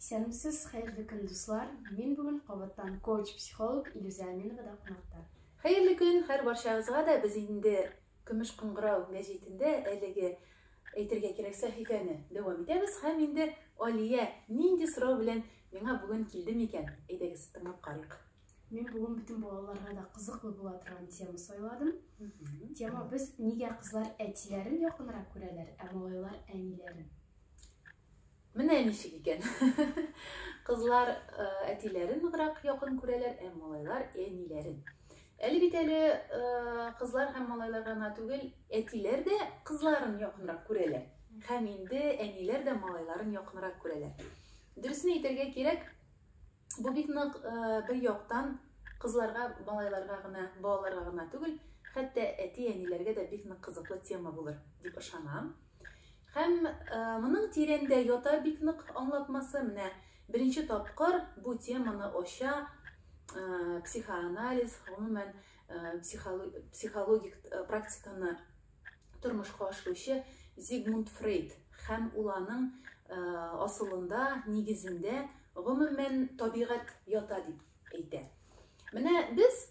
Исәнмесез, хәерле көн, дуслар! Мин бүген кабаттан коуч-психолог Илюзә Аминовада кунакта. Хәерле көн, хәр барчагызга да без инде Көмеш кыңгырау мәҗитендә әлеге әйтергә кирәк сәхифәне дәвам итәбез һәм инде Алия нинди сорау белән миңа бүген килде микән? Әйдәгез, тыңлап карыйк. Мин бүген бөтен балаларга да кызыклы була торган тема сайладым. Тема без нигә кызлар әтиләрен якынрак күрәләр, ә малайлар әниләрен. Менә ничек икән. Кызлар әтиләрен ныграк якын күрәләр, ә малайлар әниләрен. Әле бит әле кызлар һәм малайлар гына түгел, әтиләр дә кызларын якынрак күрәләр. Һәм инде әниләр дә малайларын якынрак күрәләр. Дөресен әйтергә кирәк, Бу бик нык бер яктан кызларга, малайларга гына, балаларга гына түгел, хәтта әти-әниләргә дә бик нык кызыклы тема булыр дип ышанам. Һәм моның тирәндә ята бик нык аңлатмасы. Менә беренче тапкыр бу теманы ача психоанализ, гомумән психологик практиканы тормышка ашыручы Зигмунд Фрейд һәм ул аның асылында, нигезендә, гомумән, табигать ята дип әйтә. Менә без,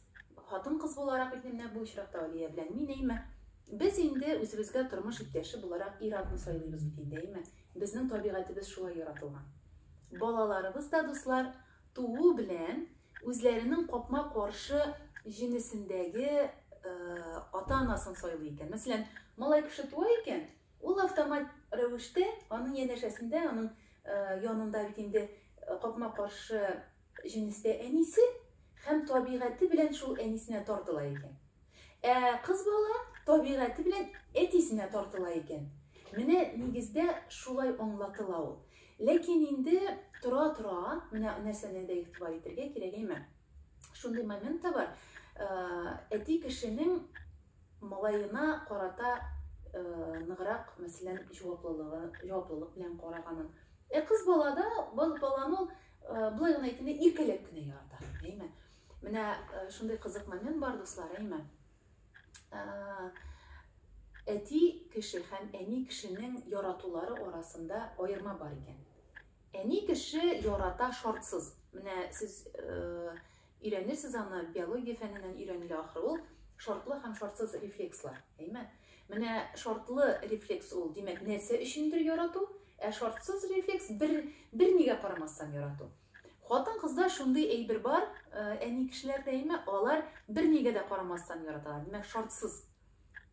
хатын-кыз буларак, бит менә бу очракта Алия белән мин, әйме, без инде үзебезгә тормыш иптәше буларак ир-атны сайлыйбыз бит инде, әйме. Безнең табигатебез шулай яратылган. Балаларыбыз да, дуслар, Туу белән үзләренең капма-каршы җенесендәге ата-анасын сайлый икән. Мәсәлән, малай кеше туа икән, ул автомат рәвештә аның янәшәсендә, аның янында бит инде капма-каршы җенестә әнисе һәм табигате белән шул әнисенә тартыла икән. Ә кыз бала табигате белән әтисенә тартыла икән. Менә нигездә шулай аңлатыла ул. Ләкин инде тора-тора менә нәрсәне дә игътибар итәргә кирәк, әйме? Шундый момент та бар, әти кешенең малаена карата ныграк, мәсәлән, җаваплылыгы, җаваплылык белән караганын. Ә кыз бала да, бал баланы ул былай гына әйткәндә иркәләп кенә ярата, әйме? Менә шундый кызык момент бар, дуслар, әйме? әти кеше һәм әни кешенең яратулары арасында аерма бар икән. Әни кеше ярата шартсыз. Менә сез э, өйрәнерсез аны биология фәненнән өйрәнелә ахры ул шартлы һәм шартсыз рефлекслар. Әйме? Менә шартлы рефлекс ул, димәк, нәрсә өчендер ярату, ә шартсыз рефлекс бер бер нигә карамастан ярату. Хатын кызда шундый әйбер бар, э, әни кешеләр дәйме, алар бер нигә дә карамастан яраталар, димәк шартсыз.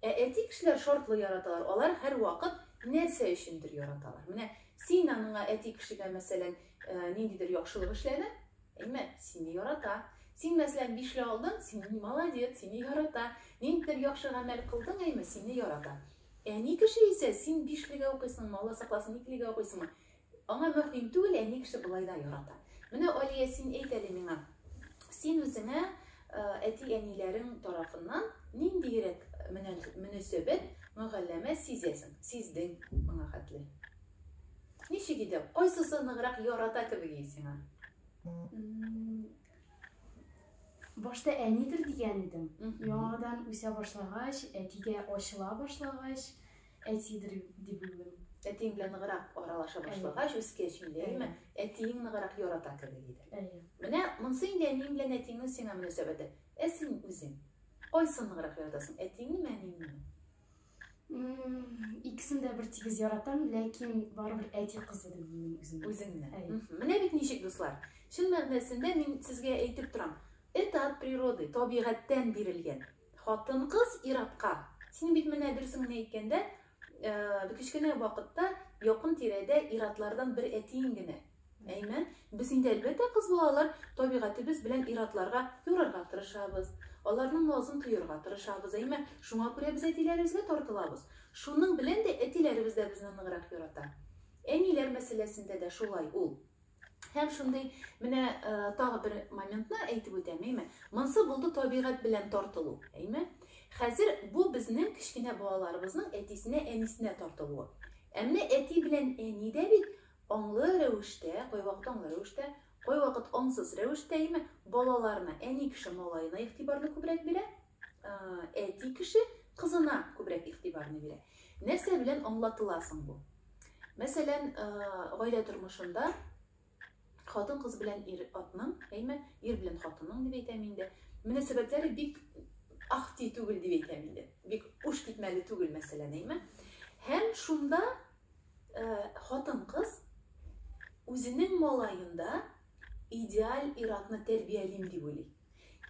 Ә әти кешеләр шартлы яраталар, алар һәр вакыт нәрсә өчендер яраталар. Менә син аныңа әти кешегә мәсәлән э, ниндидер яхшылык эшләдең, әйме, сине ярата. Син мәсәлән бишле алдың, син молодец, сине ярата. Ниндидер яхшы гамәл кылдың, әйме, сине ярата. Әни кеше исә син бишлегә укыйсың, мала сакласын, икелегә укыйсыңмы? Аңа мөһим түгел, әни кеше болай да ярата. Менә Алия, син әйт әле миңа, син үзеңә әти-әниләрең тарафыннан ниндиерәк мөнәсәбәт, мөгалләмә сизәсең, сиздең моңа хәтле? Ничек иде? Кайсысы ныграк ярата кебек иде сиңа? Башта әнидер дигән идем. Яңадан үсә башлагач, әтигә ачыла башлагач, Әтидер дип уйлыйм. Әтиең белән ныграк аралаша башлагач, үскәч инде, әйме? Әтиең ныграк ярата кебек иде. Әйе. Менә монсы инде әниең белән әтиеңнең сиңа мөнәсәбәте. Ә син үзең кайсын ныграк яратасың? Әтиңнеме, әниеңнеме? Икесен дә бер тигез яратам, ләкин барыбер әти кызы дип уйлыйм үземне. Үзеңне. Әйе. Менә бит ничек, дуслар. Чын мәгънәсендә мин сезгә әйтеп торам. Это от природы, табигатьтән бирелгән. Хатын-кыз ир-атка, син бит менә дөресен генә әйткәндә, э, кечкенә вакытта якын тирәдә ир-атлардан бер әтиең генә. Әймен, без инде әлбәттә кыз балалар табигатебез белән ир-атларга юрарга тырышабыз, аларның назын тоерга тырышабыз, әйме, шуңа күрә без әтиләребезгә тартылабыз. Шуның белән дә әтиләребез дә безне ныграк ярата. Әниләр мәсьәләсендә дә шулай ул. Һәм шундый менә э, тагы бер моментны әйтеп үтәм, әйме. Монсы булды табигать белән тартылу, әйме. Хәзер бу безнең кечкенә балаларыбызның әтисенә, әнисенә тартылуы. Ә менә әти белән әни дә бит аңлы рәвештә, кайвакыт аңлы рәвештә, кайвакыт аңсыз рәвештә, әйме, балаларына, әни кеше малаена игътибарны күбрәк бирә, әти кеше кызына күбрәк игътибарны бирә. Нәрсә белән аңлатыла соң бу? Мәсәлән, гаилә тормышында хатын кыз белән ир атның, әйме, ир белән хатынның дип әйтәм инде, мөнәсәбәтләре бик ахти түгел дип әйтәм инде. Бик уш китмәле түгел, мәсәлән, әйме. Һәм шунда хатын кыз үзенең малаенда идеаль ир-атны тәрбиялим дип уйлый.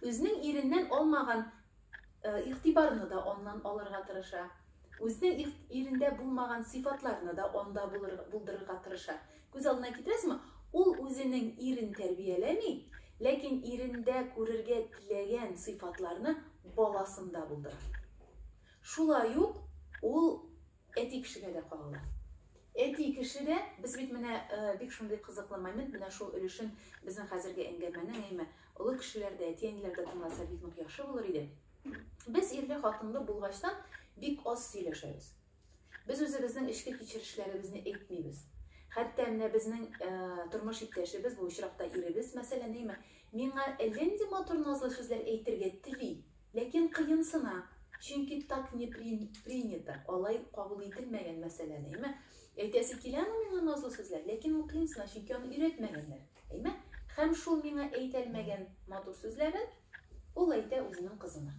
Үзенең иреннән алмаган э, игътибарны да аннан алырга тырыша. Үзенең ирендә булмаган сыйфатларны да анда булдырырга тырыша. Күз алдына китерәсезме? Ул үзенең ирен тәрбияләми, ләкин ирендә күрергә теләгән сыйфатларны баласында булдыра. Шулай ук ул Әти кешегә дә кагыла. Әти кеше дә, без бит менә бик шундый кызыклы момент, менә шул өлешен безнең хәзерге әңгәмәнең, әйме, олы кешеләр дә, әти-әниләр дә тыңласа бик нык яхшы булыр иде. Без ирле хатынлы булгачтан бик аз сөйләшәбез. Без үзебезнең эчке кичерешләребезне әйтмибез. Хәтта менә безнең тормыш иптәшебез, бу очракта иребез, мәсәлән, әйме, миңа әллә нинди матур назлы сүзләр әйтергә тели, Ләкин кыенсына, чөнки так не принято, алай кабул ителмәгән мәсьәләне, әйме? Әйтәсе киләме миңа назлы сүзләр, ләкин ул кыенсына, чөнки аны өйрәтмәгәннәр, әйме? Һәм шул миңа әйтәлмәгән матур сүзләрен ул әйтә үзенең кызына.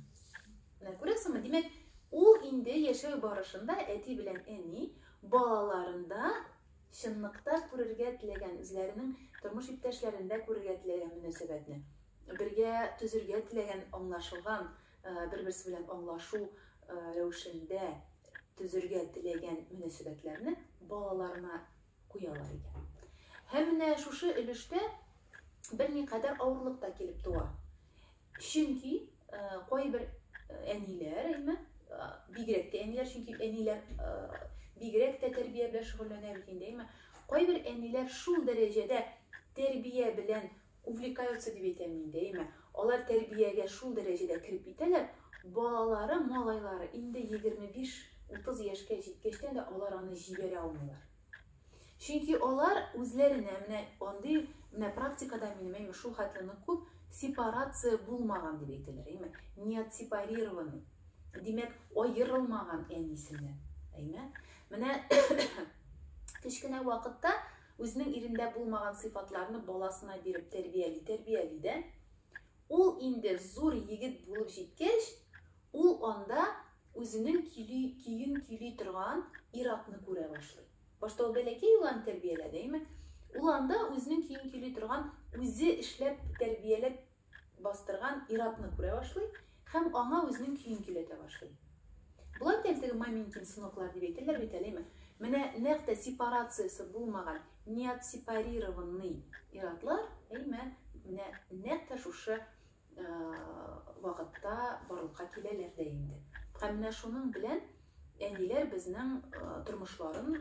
Менә күрәсеңме, димәк, ул инде яшәү барышында әти белән әни балаларында чынлыкта күрергә теләгән, үзләренең тормыш иптәшләрендә күрергә теләгән мөнәсәбәтне Бергә төзергә теләгән аңлашылган, бер-берсе белән аңлашу рәвешендә төзергә теләгән мөнәсәбәтләрне балаларына куялар икән. Һәм менә шушы өлештә берникадәр авырлык та килеп туа. Чөнки кайбер әниләр, әйме, бигрәк тә әниләр, чөнки әниләр бигрәк тә тәрбия белән шөгыльләнә бит инде, әйме, кайбер әниләр шул дәрәҗәдә тәрбия белән Увлекаются дип әйтәм мин дә, әйме, алар тәрбиягә шул дәрәҗәдә кереп китәләр, балалары, малайлары инде 25-30 яшькә җиткәчтән дә алар аны җибәрә алмыйлар. Чөнки алар үзләренә менә андый менә практикада минем әйме шул хәтле нык күп сепарация булмаган дип әйтәләр, әйме, не отсепарированный. Димәк, аерылмаган әнисеннән, әйме. Менә кечкенә вакытта Үзенең ирендә булмаган сыйфатларны баласына биреп тәрбияли, тәрбияли дә, ул инде зур егет булып җиткәч, ул анда үзенең көйли, көен көйли торган ир-атны күрә башлый. Башта ул бәләкәй йоланы тәрбияләде, әйме? Ул анда үзенең көен көйли торган, үзе эшләп, тәрбияләп бастырган ир-атны күрә башлый һәм аңа үзенең көен көйләтә башлый. Болай да әлеге Маменькин сыноклар дип әйтәләр бит әлеме? Менә нәкъ тә сепарациясе булмаган, неотсепарированный ир-атлар, әйме, менә нәкъ тә шушы вакытта барлыкка киләләр дә инде. Һәм менә шуның белән әниләр безнең тормышларын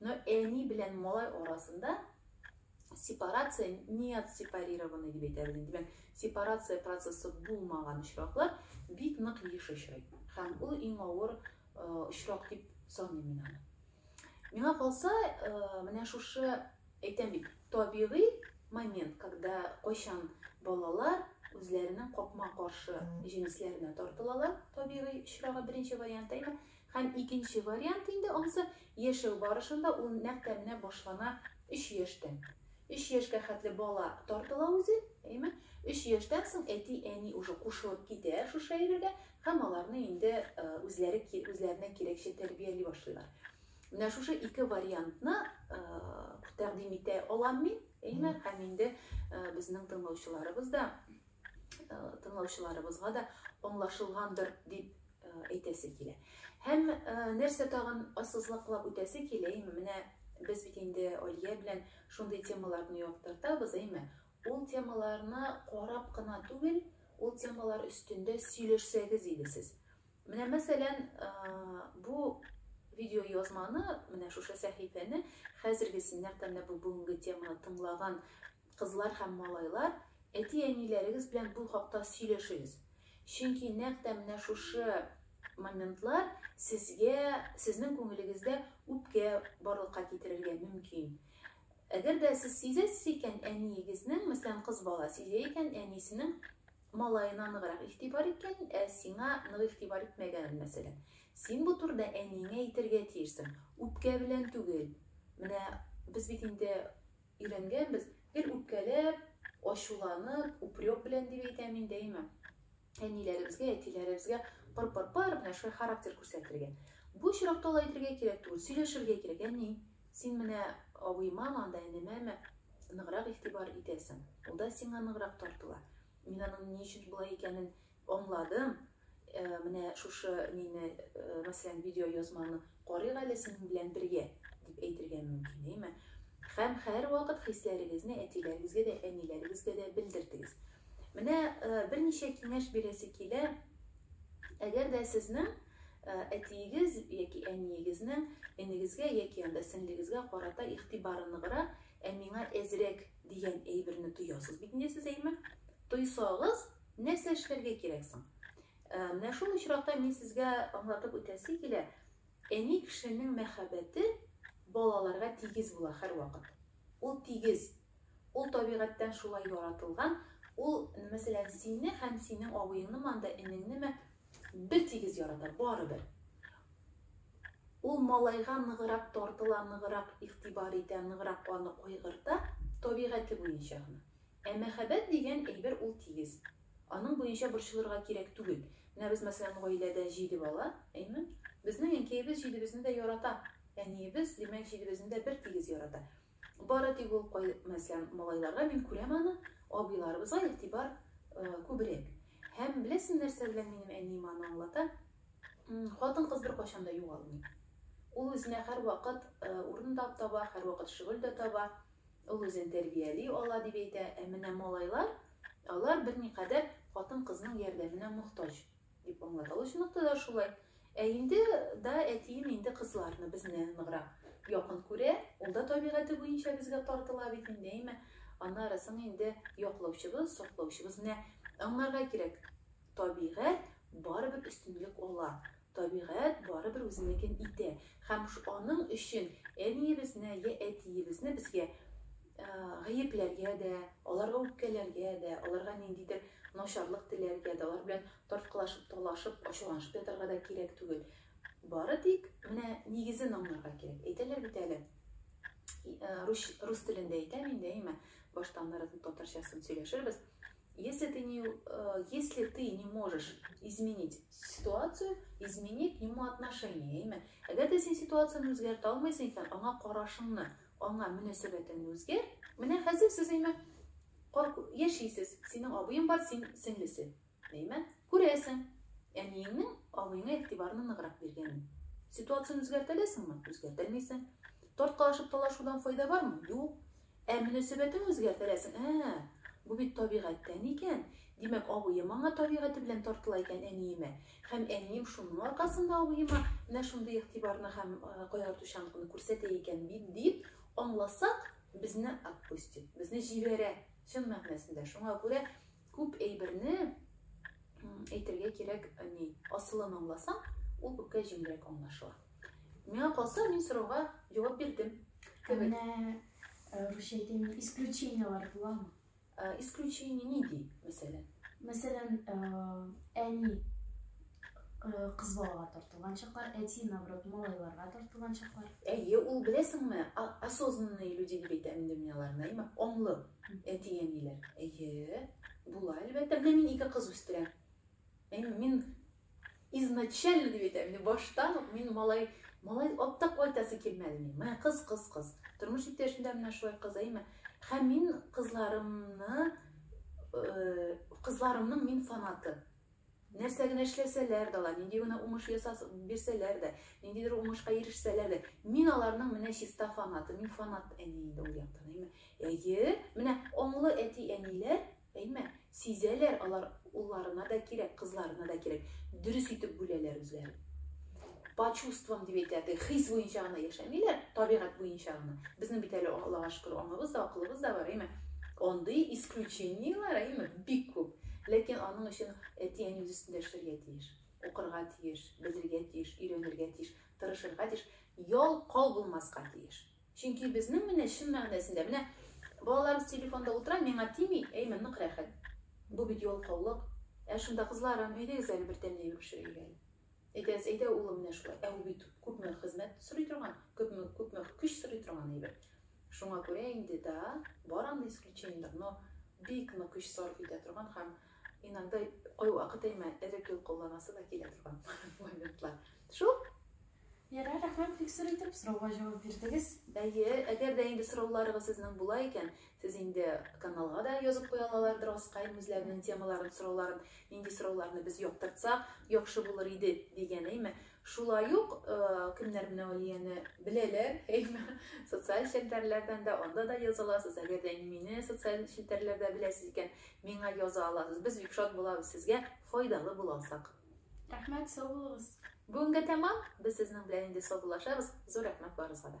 Но әни белән малай арасында сепарация неотсепарированный дип әйтәбез инде. Димәк, сепарация процессы булмаган очраклар бик нык еш очрый. Һәм ул иң авыр очрак дип саныйм мин аны. Миңа калса, менә шушы әйтәм бит, табигый момент, когда кайчан балалар үзләренең капма-каршы җенесләренә тартылалар, табигый очрагы беренче вариант әйме, Һәм икенче вариант инде ансы, яшәү барышында ул нәкъ тә менә башлана өч яшьтән. Өч яшькә хәтле бала тартыла үзе, әйеме? Өч яшьтән соң әти, әни уже кушылып китә шушы әйбергә һәм аларны инде үзләре үзләренә кирәкчә тәрбияли башлыйлар. Менә шушы ике вариантны тәкъдим итә алам мин, әйеме? Һәм инде безнең тыңлаучыларыбыз да тыңлаучыларыбызга да аңлашылгандыр дип әйтәсе килә. Һәм нәрсә тагын ассызлыклап үтәсе килә, әйме, менә без бит инде Алия белән шундый темаларны яктыртабыз, әйме, ул темаларны карап кына түгел, ул темалар өстендә сөйләшсәгез иде сез. Менә мәсәлән, бу видео язманы, менә шушы сәхифәне хәзерге синнәр тәмләп бүгенге теманы тыңлаган Кызлар һәм малайлар, әти-әниләрегез белән бу хакта сөйләшегез. Чөнки нәкъ тә менә шушы моментлар сезгә, сезнең күңелегездә үпкә барлыкка китерергә мөмкин. Әгәр дә сез сизәсез икән, әниегезнең, мәсәлән, кыз бала сизә икән, әнисенең малаена ныграк игътибар иткәнен, ә сиңа нык игътибар итмәгәнен, мәсәлән. Син бу турыда әниеңә әйтергә тиешсең. Үпкә белән түгел. Менә без бит инде Өйрәнгәнбез, гел үпкәләп, ачуланып, упрек белән дип әйтәм мин дәимә. Әниләребезгә, әтиләребезгә пыр-пыр-пыр менә шулай характер күрсәтергә. Бу очракта ла әйтергә кирәк түгел, сөйләшергә кирәк. Әни, син менә абыйма, анда әнемәме ныграк игътибар итәсең. Ул да сиңа ныграк тартыла. Мин аның ни өчен болай икәнен Аңладым. Менә шушы нине, мәсәлән, видеоязманы карыйк әле синең белән бергә, дип әйтергә мөмкин, әйме? Һәм һәрвакыт хисләрегезне әтиләрегезгә дә, әниләрегезгә дә белдертегез. Менә берничә киңәш бирәсе килә. Әгәр дә сезнең әтиегез яки әниегезнең энегезгә яки анда сеңлегезгә карата игътибары ныграк, ә миңа әзрәк дигән әйберне тоясыз бит инде сез, әйме? Тойсагыз, Нәрсә эшләргә кирәк соң? Э, менә шул очракта мин сезгә аңлатып үтәсе килә, әни кешенең мәхәббәте балаларга тигез була һәрвакыт. Ул тигез, ул табигатьтән шулай яратылган, ул, мәсәлән, сине һәм синең абыеңны манда энеңнеме бер тигез ярата, барыбер. Ул малайга ныгырак тартыла, ныгырак игътибар итә, ныгырак аны кайгырта, табигате буенча гына. Ә мәхәббәт дигән әйбер ул тигез. Аның буенча борчылырга кирәк түгел. Менә без, мәсәлән, гаиләдә җиде бала, әйме? Безнең әнкәебез җидебезне дә ярата. Әниебез, димәк, җидебезне дә бер тигез ярата. Бары тик ул, мәсәлән, малайларга мин күрәм аны, абыйларыбызга игътибар күбрәк. Һәм беләсең нәрсә белән минем әнием аны аңлата? Хатын-кыз беркайчан да югалмый. Ул үзенә һәрвакыт урын да таба, һәрвакыт шөгыль дә таба. Ул үзен тәрбияли ала дип әйтә, ә менә малайлар, алар берникадәр хатын-кызның ярдәменә мохтаҗ, дип аңлата. Ул чынлыкта да шулай. Ә инде да әтием инде кызларны безне ныграк якын күрә, ул да табигате буенча безгә тартыла бит инде, әйме? Аннары соң инде яклаучыбыз, саклаучыбыз. Менә аңларга кирәк, табигать барыбер өстенлек ала. Табигать барыбер үзенекен итә, һәм аның өчен әниебезне йә әтиебезне безгә гаепләргә дә, аларга үпкәләргә дә, аларга ниндидер начарлык теләргә дә, алар белән тарткалашып, талашып, ачуланышып ятарга да кирәк түгел. Бары тик менә нигезен аңларга кирәк. Әйтәләр бит әле, рус телендә әйтәм инде, әйме, башта аннары татарчасын сөйләшербез. Если ты не, э, если ты не можешь изменить ситуацию, измени к нему отношение. Әмма әгәр дә син ситуацияне үзгәртә алмыйсың икән, аңа карашыңны, аңа мөнәсәбәтеңне үзгәр. Менә хәзер сез әйме яшисез. Синең абыең бар, син сеңлесе. Әйме? Күрәсең. Әниеңнең абыеңа игътибарны ныграк биргәнен. Ситуацияне үзгәртәләсеңме? Үзгәртәлмисең. Тарткалашып талашудан файда бармы? Юк. Ә мөнәсәбәтең үзгәртерәсең, ә-ә, бу бит табигатьтән икән, димәк, абыем аңа табигате белән тартыла икән әниемә, һәм әнием шуның аркасында абыема менә шундый игътибарны һәм кайгыртучанлыкны күрсәтә икән бит, дип аңласак, безне отпустит, безне җибәрә, чын мәгънәсендә. Шуңа күрә Күп әйберне әйтергә кирәк ни асылын аңласаң ул күпкә җиңелрәк аңлашыла миңа калса мин сорауга җавап бирдем кебек э, русча әйтәйме исключениелар буламы э, исключение нинди мәсәлән мәсәлән э, әни кыз балага тартылган чаклар әти наоборот малайларга тартылган чаклар әйе ул беләсеңме осознанные люди дип әйтәм инде мин аларны әйме аңлы Әти-әниләр, әйе, була, әлбәттә, менә мин ике кыз үстерәм. Әйе, мин изначально дип әйтәм, инде баштан ук мин малай, малай атта кайтасы килмәде мин. Менә кыз, кыз, кыз. Тормыш иптәшем дә менә шулай кыз, әйме. Һәм мин кызларымны, э, кызларымның мин фанаты. Нәрсә генә эшләсәләр дә ала, нинди генә уңыш ясас бирсәләр дә, ниндидер уңышка ирешсәләр дә, мин аларның менә чиста фанаты, мин фанат әни инде ул яктан, әйме. Әйе, менә аңлы әти-әниләр, әйме, сизәләр, алар улларына да кирәк, кызларына да кирәк, дөрес итеп бүләләр үзләрен. по чувствам дип әйтә теге хис буенча гына яшәмиләр табигать буенча гына безнең бит әле аллага шөкер аңыбыз да акылыбыз да бар әйме андый исключениелар әйме бик күп ләкин аның өчен әти әни үз өстендә эшләргә тиеш укырга тиеш белергә тиеш өйрәнергә тиеш тырышырга тиеш ялкау булмаска тиеш чөнки безнең менә чын мәгънәсендә менә балаларыбыз телефонда утыра миңа тими әйме нык рәхәт бу бит ялкаулык ә шунда кызларым әйдәгез әле бер тәмле әйбер пешерәйек әле Әйдәгез, әйдә, улым, менә шулай. Ә ул бит күпме хезмәт сорый торган, күпме, күпме көч сорый торган әйбер. Шуңа күрә инде, да, бар андый исключениеләр, но бик нык көч сарыф итә торган һәм иногда кайвакыт әмма эреп йолкылдамасы да килә торган моментлар. Шул. Ярар, рәхмәт, бик зур итеп сорауга җавап бирдегез. Әйе, әгәр дә инде сорауларыгыз сезнең була икән, Сез инде каналга да язып куя алалардыр аскаен үзләренең темаларын, сорауларын, нинди сорауларны без яктыртсак яхшы булыр иде дигән, әйме? Шулай ук кемнәр менә Алияне беләләр, әйме? Социаль челтәрләрдән дә анда да яза аласыз. Әгәр дә мине социаль челтәрләрдә беләсез икән, миңа яза аласыз. Без бик шат булабыз сезгә файдалы була алсак. Рәхмәт, сау булыгыз. Бүгенгә тәмам. Без сезнең белән инде саубуллашабыз. Зур рәхмәт барыгызга да.